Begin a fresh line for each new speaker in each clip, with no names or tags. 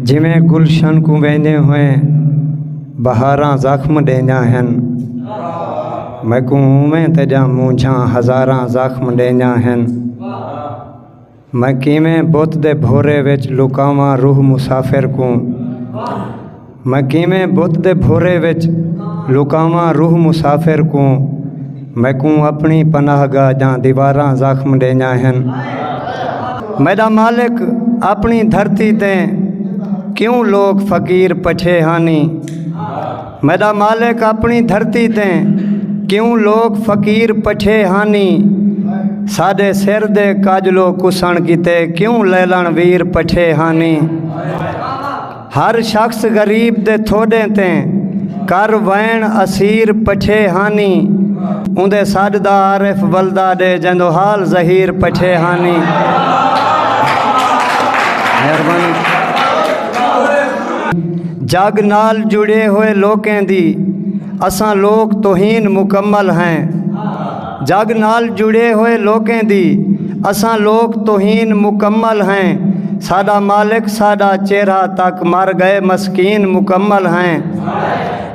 جیویں گلشن کوں ویندے ہوئے بہاراں زخم ݙیندیاں ہن میکوں اونویں تیݙیاں مونجھاں ہزاراں زخم ݙیندیاں ہن میں کیویں بت دے بھورے وچ لکاواں روح مسافر کوں میں کیویں بت دے بھورے وچ لکاواں روح مسافر کوں میکوں اپݨی پناہ گاہ دیاں دیواراں زخم ݙیندیاں ہن۔ میݙا مالک اپݨی دھرتی تے کیوں لوک فقیر پچھے ہانی۔ میݙا مالک اپݨی دھرتی تے کیوں لوک فقیر پچھے ہانی۔ ساݙے سر دے کاجلو کسݨ کیتے کیوں لیلݨ ویر پچھے ہانی۔ ہر شخص غریب دے تھوڈیں تے کر وئن اسیر پچھے ہانی اوندے سڈ دا عارف ولدا ڈے جیندو حال ظہیر پچھے ہانی مہربانی جگ نال جڑے ہوئے لوکیں دی اساں لوک توہین مکمل ہیں جگ نال جڑے ہوئے لوکیں دی اساں لوک توہین مکمل ہیں ساڈا مالک ساڈا چیرہ تک مر گئے مسکین مکمل ہیں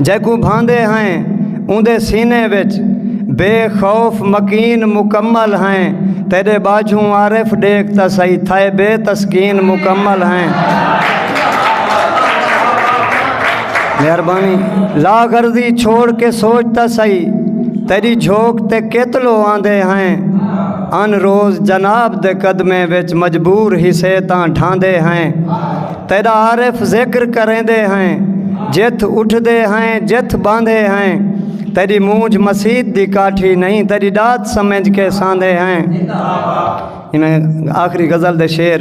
جیکوں بھاندے ہیں اوندے سینے وچ بے خوف مکین مکمل ہیں تیرے باجھوں عارف ڈیکھ تا سہی تھائے بے تسکین مکمل ہیں مہربانی لا غرضی چھوڑ کے سوچ تا سہی تیری جھوک تے کیتلو آندے ہیں ان روز جناب دے قدمیں وچ مجبور حصے تاں ڈھاندے ہیں تیرا عارف ذکر کریندے ہیں جتھ اٹھ دے ہیں جتھ باندھے ہیں تیری مونجھ مسید دی کاٹھی نہیں تیری ڈات سمجھ کے ساندھے ہیں آخری غزل دے شیر